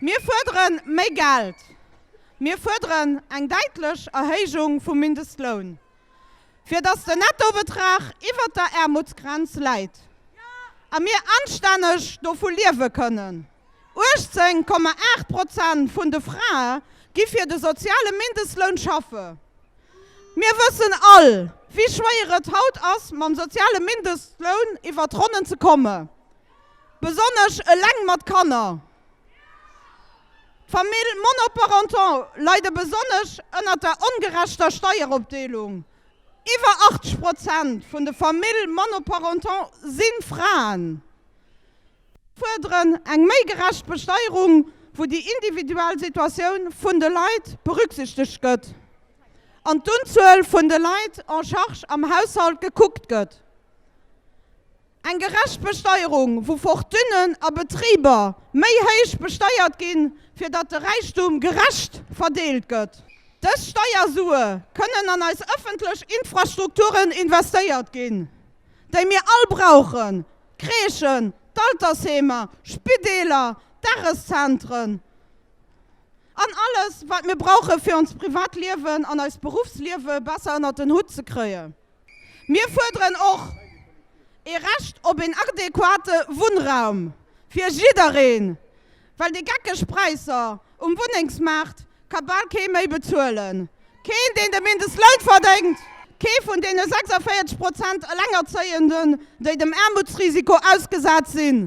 Mir fuerdere méi Geld. Mir fuerderen eng däitlech Erhéijung vum Mindestloun, fir datt den Nettobetrag iwwert der Aarmutsgrenz läit a mir anstänneg dovu liewe kënnen. 18,8 Prozent vun de Frae gi fir de soziale Mindestloun schaffe. Mir wëssen all, wéi schwéier et haut ass, mam soziale Mindestloun iwwer d'Ronnen ze kommen. Besonnesch eleng mat Kanner. D'Famill monoparental leide besonnesch ënnert der ongerechter Steieropdeelung. Iwwer 80 Prozent vun de Famill monoparental si Fraen. Si fuerderen eng méi gerecht Besteierung, wou déi individuell Situatioun vun de Leit berücksichtegt gëtt an d'Unzuel vun de Leit en charge am Haushalt gekuckt gëtt. Eng gerecht Besteierung, wou Fortunen a Betriber méi héich besteiert ginn, fir datt de Räichtum gerecht verdeelt gëtt. Dës Steiersue kënnen an eis ëffentlech Infrastrukturen investéiert ginn, déi mir all brauchen, d'Crèchen, d'Altersheemer, Spideeler, Dageszentren an alles, wat mir brauche fir ons privat Liewen an eist Beruffsliewe besser ënnert den Hutt ze kréien. Mir fuerderen och ee Recht op een adequate Wunnraum fir jiddereen, well déi geckeg Präisser um Wunnengsmaart ka bal kee méi bezuelen. Keen, deen de Mindestloun verdéngt, kee vun deene 46 Prozent Elengerzéienden, déi dem Aarmutsrisiko ausgesat sinn.